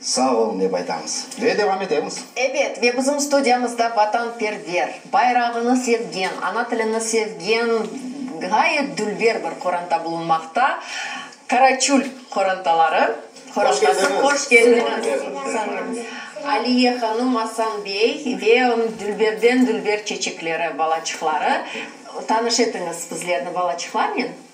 Sağ olun dep aytamız ve devam etemiz. Ebet, ve bizim studiyamızda vatanperver, bayrağını sevgen, ana tilini sevgen ğayet dülber bir qoranta bulunmaqta, Karaçul qorantaları qorantası. Hoş keldiñiz. Aliye hanım, Asan bey ve onıñ dülberden-dülber çeçekleri, balaçıqları. Tanış etiñiz bizlerni balaçıqlarnen.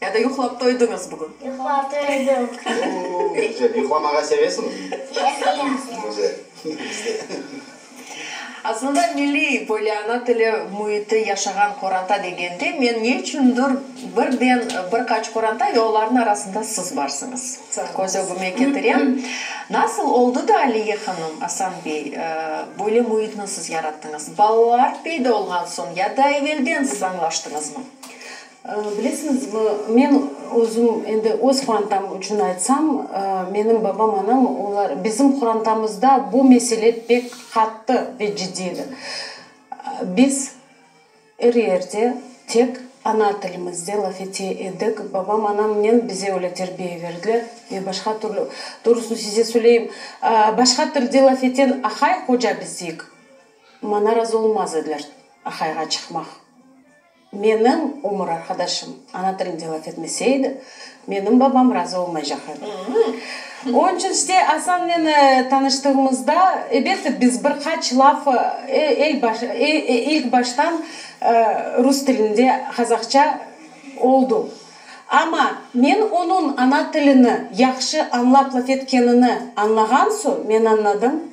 Ya da yuqlap toydıñız bugün? Yuqlap toydıq. Oo, ne güzel. Yuqlamağa sevesiñizmi? Sevemiz. Güzel. Biz de. Aslında milliy böyle ana tili müiti yaşağan qoranta degende, men ne içündir birden bir qaç qoranta ve olarnıñ arasında siz barsıñız, köz ögüme ketirem. Nasıl oldı da, Aliye hanım, Asan bey, böyle müitni siz yarattıñız? Balalar peyda olğan soñ ya da evelden siz añlaştıñızmı? Bilesiñizmi, men özüm, endi öz qurantam içün aytsam, menim babam, anam, olar, bizim qurantamızda bu mesele pek qattı ve ciddiy edi. Biz er yerde tek ana tilimizde laf ete edik. Babam, anamnen bize öyle terbiye berdiler ve başqa türlü, doğrusını size söyleyim, başqa tilde laf eten aqay, hoca bizdik, maña razı olmaz ediler aqayğa çıqmaq. Menim umur arqadaşım ana tilinde laf etmese edi, menim babam razı olmaycaq edi. Onıñ içün işte Asan meni tanıştığımızda, elbette, biz bir qaç laf ilk baştan rus tilinde qazaqça oldu. Amma men onıñ ana tilini yahşı añlap laf etkenini añlağan soñ, men añladım.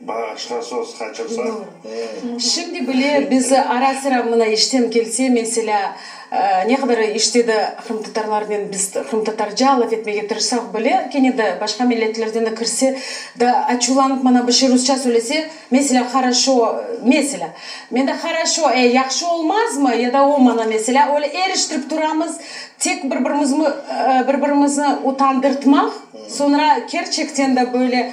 Bağışla, soz qaçırsa. Şimdi bile biz ara-sıra mına işten kelse, meselâ, ne qadar işte de qırımtatarlarnen biz qırımtatarca laf etmege tırışsaq bile, kene de başqa milletlerden de kirse, da açuvlanıp mana bir şey rusça söylese, meselâ, haraşo, meselâ, men de haraşo, e, yahşı olmazmı? Ya da o mana, meselâ, öyle eriştirip turamız, tek bir-birimizni bir-birimizni utandırtmaq, soñra kerçekten de böyle,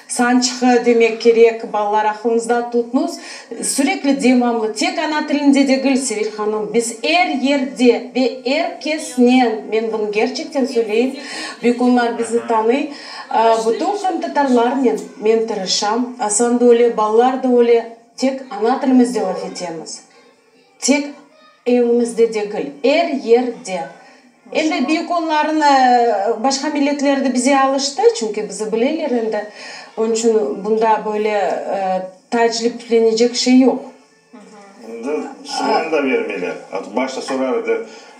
Sançqı, demek kerek, balalar, aqlınızda tutnuz, sürekli, devamlı, tek ana tilinde degil, Sevil hanım, biz er yerde ve er kesnen, men bunı gerçekten söyleyim, büyük onlar bizni tanıy, bütün qırımtatarlarnen men tırışam, Asan da öyle, balalar da öyle, tek ana tilimizde laf etemiz. Tek evimizde degil, er yerde. Endi büyük onların başqa milletler de bize alıştı, çünki bizi bileler endi. Onıñ içün bunda böyle taacciplenecek şey yoq. Endi soğan da bermeyler. Başta sorar edi.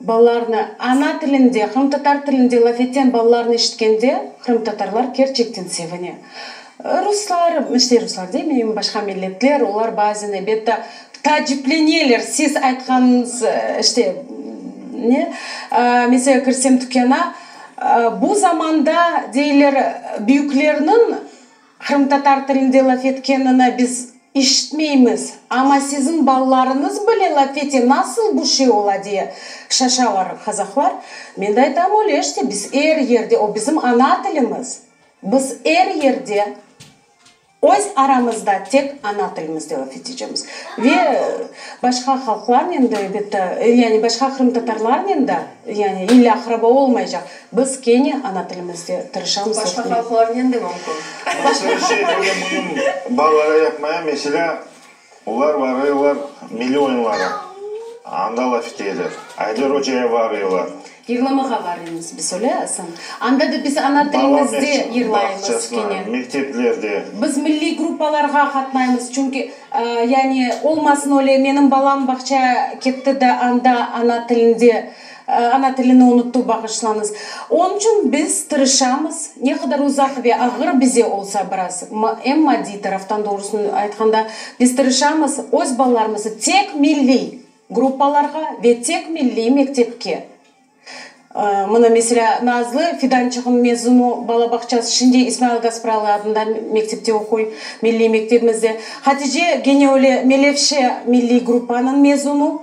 Balalarnı ana tilinde, qırımtatar tilinde laf etken balalarnı eşitkende qırımtatarlar kerçekten sevine. Ruslar, işte ruslar demeyim, başqa milletler, olar bazen elbette taacipleneler, siz aytqanıñız, işte, ne, mesela kirsem tükâna, bu zamanda, deyler, büyüklerniñ, Qırımtatar tilinde laf etkenini biz işitmeymiz, amma siziñ balalarıñız bile laf ete, nasıl bu şey ola, diye şaşalar qazaqlar. Men de aytam, öyle işte, biz er yerde, o bizim ana tilimiz, biz er yerde öz aramızda tek ana tilimizde laf etecemiz. Ve başqa halqlarnen de, elbette, yani başqa qırımtatarlarnen de, yani illa aqraba olmaycaq. Biz kene ana tilimizde tırışamız. Başqa halqlarnen de mümkün. Başqa bir şey böyle bunıñ balaları yapmaya, meselâ, olar varıylar milliy oyunlara, anda laf eteler. Ayder Oca'ya varıylar. Yırlamağa varıymız biz, öyle Asan? Anda da biz ana tilimizde yırlaymız kene. Mekteplerde. Biz milliy gruppalarğa qatnaymız, çünki, yani, olmasın öyle, menim balam bağça ketti de anda ana tilinde. Ana tilini unuttu, bağışlañız. Onıñ içün biz tırışamız, ne qadar uzaq ve ağır bize olsa biraz, em maddiy taraftan, doğrusını aytqanda, biz tırışamız öz balalarımızı tek milliy gruppalarğa ve tek milliy mektepke, mına, meselâ, Nazlı Fidançığnıñ mezunu balabağçası şimdi İsmail Gaspralı adında mektepte oquy, milliy mektebimizde, Hatice gene öyle Melevşe milliy gruppanıñ mezunu,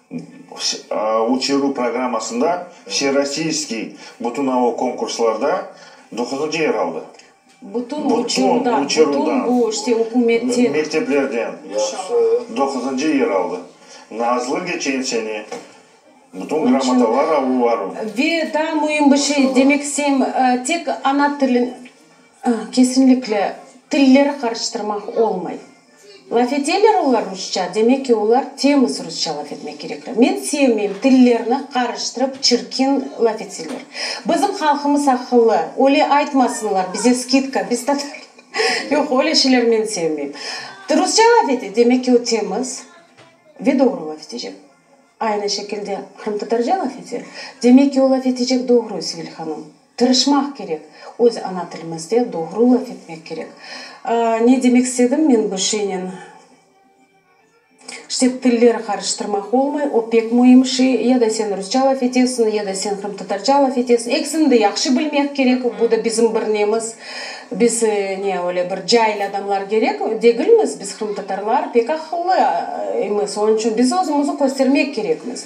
Uçıruv programmasında Vserossiyskiy bütünauv konkurslarda doquzıncı yer aldı. Bütün uçuruvdan, bütün bu işte ükümetten. Mekteplerden doquzıncı yer aldı. Nazlı geçen sene bütün gramatalar alıp varım. Ve daa müim bir şey demek isteyim, tek ana tilin, kesinlikle tilleri qarıştırmaq olmay. Laf eteler olar rusça, demek ki, olar temiz rusça laf etmek kerekler. Men sevmeyim tillerni qarıştırıp, çirkin laf etseler. Bizim halqımız aqıllı, öyle aytmasınlar, bize skidka, biz tatarlar. Yoq, öyle şeyler men sevmeyim. Rusça laf ete, demek ki, o temiz ve doğru laf etecek. Aynı şekilde qırımtatarca laf ete, demek ki, o laf etecek doğru, Sivil hanım. Tırışmaq kerek. Öz ana tilimizde doğru laf etmek kerek. Ne demek istedim men bu şeynen? İşte, tilleri qarıştırmaq olmay, o pek müim şey. Ya da sen rusça laf etesiñ, ya da sen qırımtatarca laf etesiñ. Ekisini de yahşı bilmek kerek. Bu da bizim bir nemiz. Biz, ne, öyle bir cail adamlar gerek degilmiz. Biz, qırımtatarlar, pek aqıllı imiz. Onıñ içün biz özümizni köstermek kerekmiz.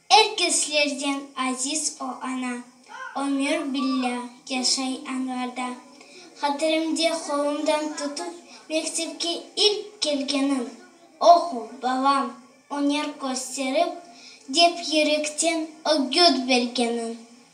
Er keslerden aziz o ana. Ömür billâ yaşay añlarda. Hatirimde qolumdan tutıp mektepke ilk kelgenin, Oqu, balam, öner kösterip, dep yürekten ögüt bergenin.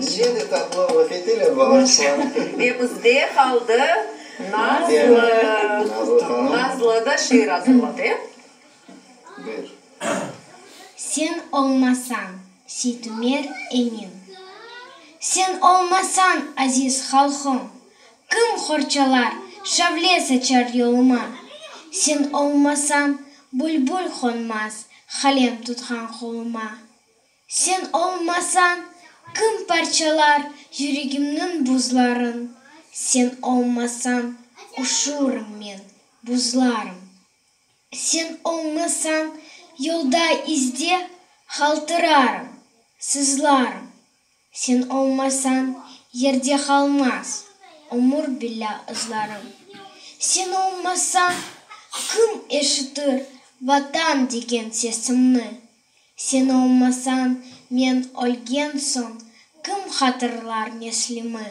Yine de tatlı laf eteler balaçılar. Ve bizde qaldı Nazlı. Nazlı hanım. Nazlı da şiir azırladı, e? Buyur. Sen olmasañ, Seytumer enim. Sen olmasañ, aziz halqım, Kim qorçalar, şavle saçar yoluma? Sen olmasañ, bülbül qonmaz, Qalem tutqan qoluma. Sen olmasañ, kim parçalar yüregimniñ buzların? Sen olmasañ, uşurım men, buzlarım. Sen olmasañ, yolda, izde qaltırarım, sızlarım. Sen olmasañ, yerde qalmaz ömür bile ızlarım. Sen olmasañ, kim eşitir Vatan degen sesimni? Sen olmasañ, men ölgen soñ, kim hatırlar neslimi?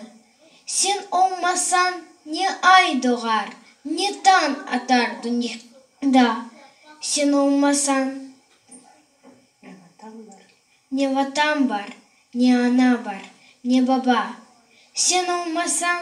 Sen olmasañ, ne ay doğar, ne tañ atar dünyada. Sen olmasañ, ne Vatan bar, ne ana bar, ne baba. Sen olmasañ,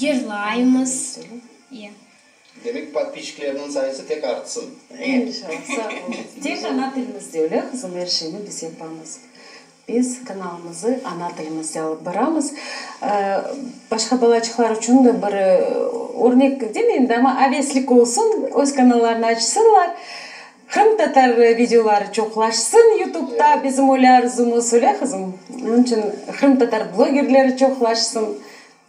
yırlaymız. Demek, podpiçiklerniñ sayısı tek artsın. İnşallah, sağ olunız. Tek ana tilimizde, öyle qızım, er şeyni biz yapamız. Biz kanalımızı ana tilimizde alıp baramız. Başqa balaçıqlar içün de bir örnek demeyin de, amma, aveslik olsun, öz kanallarını açsınlar. Qırım tatar videoları çoqlaşsın yutubda bizim öyle arzumız öyle qızım? Onıñ içün qırım tatar blogerleri çoqlaşsın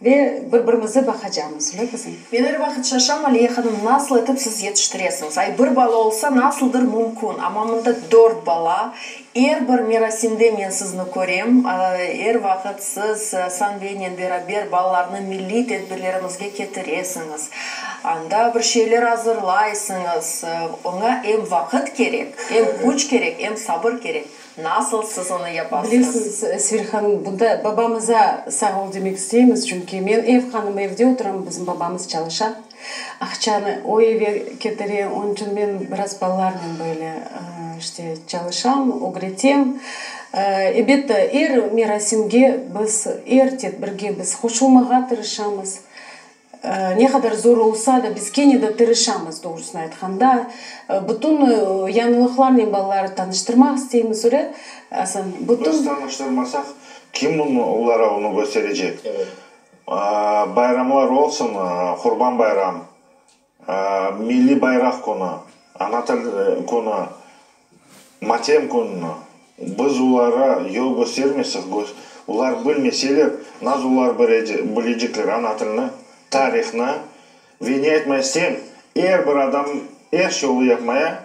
ve bir birimizi baqacamız öyle qızım? Men er vaqıt şaşam Aliye hanım nasıl etip siz yetiştiresiñiz ay bir bala olsa nasıldır mümkün ama mında dört bala. Er bir merasimde men sizni körem, er vaqıt siz Sanbeynen beraber balalarnı milliy tedbirlerimizge ketiresiñiz, anda bir şeyler azırlaysıñız. Oña em vaqıt kerek, em küç kerek, em sabır kerek. Nasıl siz onı yapasıñız? Bilesiñiz, Sevil hanım, bunda babamıza sağ ol demek isteymiz, çünki men ev hanımı, evde oturam, bizim babamız çalışa. Aqçanı o eve ketire, onıñ içün men biraz balalarnen böyle işte çalışam, ögretem. Elbette, er merasimge biz, er tedbirge biz qoşulmağa tırışamız. Ne qadar zor olsa da, biz kene de tırışamız, doğrusını aytqanda. Bütün yañılıqlarnen balaları tanıştırmaq isteymiz, öyle. Biz tanıştırmasaq, kim bunı, olara onı kösterecek? Bayramlar olsun, Qurban bayram, Milliy bayraq künü, Ana til künü, Matem kününi biz ulara yol köstermesek, ular bilmeseler, naz ular bilecekler ana tilni, tarihni? Ve ne aytmay istem, er bir adam er şey olı yapmaya.